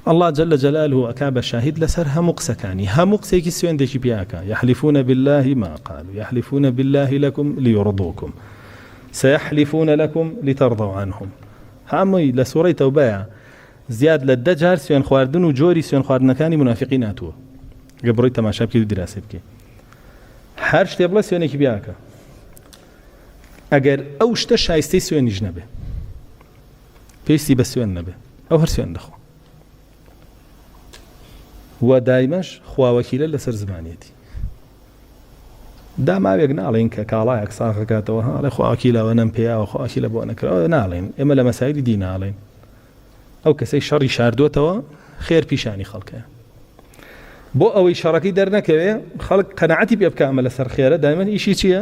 اللە جل جلالە ئەکا بە شاهید لەسەر هەموو قسەکانی هەموو قسەیەکی سوێندێکی پێ ئەکا یحلفون باللە ما قالو یحلفون باللە لکم لیرضوکم سیحلفون لکم لترضوا عنهم هەمووی لە سورەی تەوبەیە زیاد لە دە جار سوێن خواردن و جۆری سوێن خواردنەکانی منافقی ناتووە گە بڕی تەماشا بکەی و دراسی بکەی هەر شتێ بڵێ سوێنێکی بیاکە ئەگەر ئەو شتە شایستەی سوێنیش نەبێ پێویستی بە سوێن نەبێ ئەو هەر سوێن دەخوا و دایمەش خواوەکیلە لەسەر زمانیەتی داماوێک ناڵین کە کاڵایەک ساغەکاتەوە هاڵێ خواکیلەوە نەم پێیاوە خواکی لە بۆ نەکراوە ناڵێن ئێمە لە مەسایری دی ناڵێن ئەو کەسەی شەڕی شاردوتەوە خێر پیشانی خەڵکە بۆ ئەوەی شەڕەکەی دەرنەکەوێ خەڵک قەنەعەتی پێ بکەمە لەسەر خێرە دایمەن ئیشی چییە؟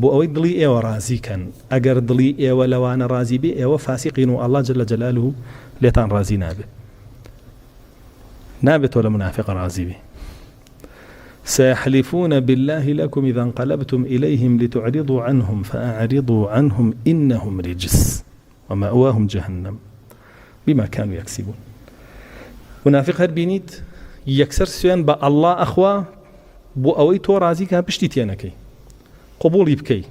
بۆ ئەوەی دڵی ئێوە ڕازی کەن ئەگەر دڵی ئێوە لەوانە ڕازی بێ ئێوە فاسیقین و اللە جل جلالە لێتان ڕازی نابێ نابێ تۆ لە منافق ڕازی بی سيحلفون بالله لكم إذا انقلبتم إليهم لتعرضوا عنهم فأعرضوا عنهم إنهم رجس و مأواهم جهنم بما کانو یکسبون مونافیق هەر بینیت یەکسەر سوێن بە ئەڵڵا ئەخوا بۆ ئەوەی تۆ ڕازی کا پشتی تێنەکەی قوبوڵی بکەی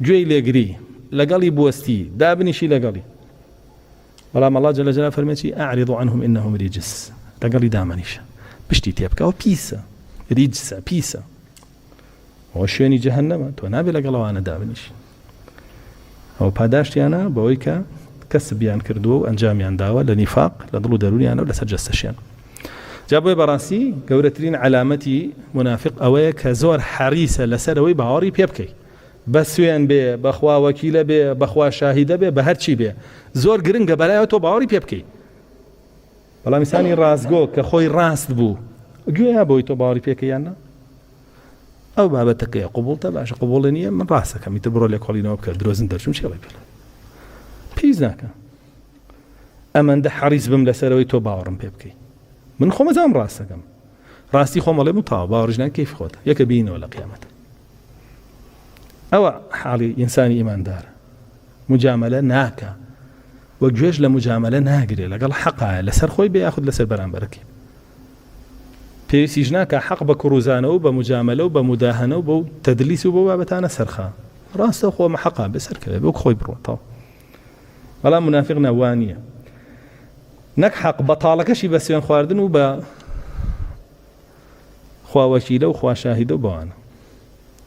گوێی لێگری لەگەڵی بوەستی دابنیشی لەگەڵی بەڵام ئەڵا جەلە جەلا فەرمێکی ئەعرض عنهم انهم رجس لەگەڵی دامەنیشە پشتی تێبکەوە پیسە ریجسە پیسە ئەوە شوێنی جەهەنەمە تۆ نابێت لەگەڵ ئەوانە دابنیشی ئەو پاداشتیانە بەوەی کە کەسبیان کردووە و ئەنجامیان داوە لە نیفاق لە دڵ و دەرونیانە و لەسەر جەستەشیان جا بۆی بەڕاستی گەورەترین علامەتی منافق ئەوەیە کە زۆر حەریسە لەسەرەوەی باوەڕی پێ بکەیت بە سوێن بێ بەخوا وەکیلە بێ بەخوا شاهیدە بێ بە هەرچی بێ زۆر گرنگە بەلایەوە تۆ باوەڕی پێ بکەیت بەڵام ئینسانی ڕاستگۆ کە خۆی ڕاست بوو گوێیا بۆی تۆ باوەڕی پێکەیان نە ئەو بابەتەکەی قوبڵتە باشە قوبڵێ نیە من ڕاستەکەم تر بڕۆ لە کۆڵینەوە بکە درۆزن دەرچون چێڵی پێ پیس ناکە ئەمەندە حەریز بم لەسەرەوەی تۆ باوەڕم پێ بکەیت من خۆمەزام ڕاستەکەم ڕاستی خۆمەڵێ بوو تا باوەڕژنان کەیف خۆت یەکە بینەوە لە قیامەت ئەوە حاڵی ئینسانی ئیماندارە مجاملە ناکە و گوێش لە مجاملە ناگرێت لەگەڵ حەقایە لەسەر خۆی بێ یاخود لەسەر بەرامبەرەکە پێویستیش ناکە حەق بە کوڕوزانەوە بە مجاملە و بە مداهەنە و بە تەدلیس و بۆ بابەتانە سەرخە ڕاستە خۆمە حەقا بەسەرکەوێت بۆ خۆی بڕۆتەوە بەڵام منافق ناوانە نەک حەق بەتاڵەکەشی بە سوێن خواردن و بە خوا وەکیلە و خوا شاهیدە و بەوانە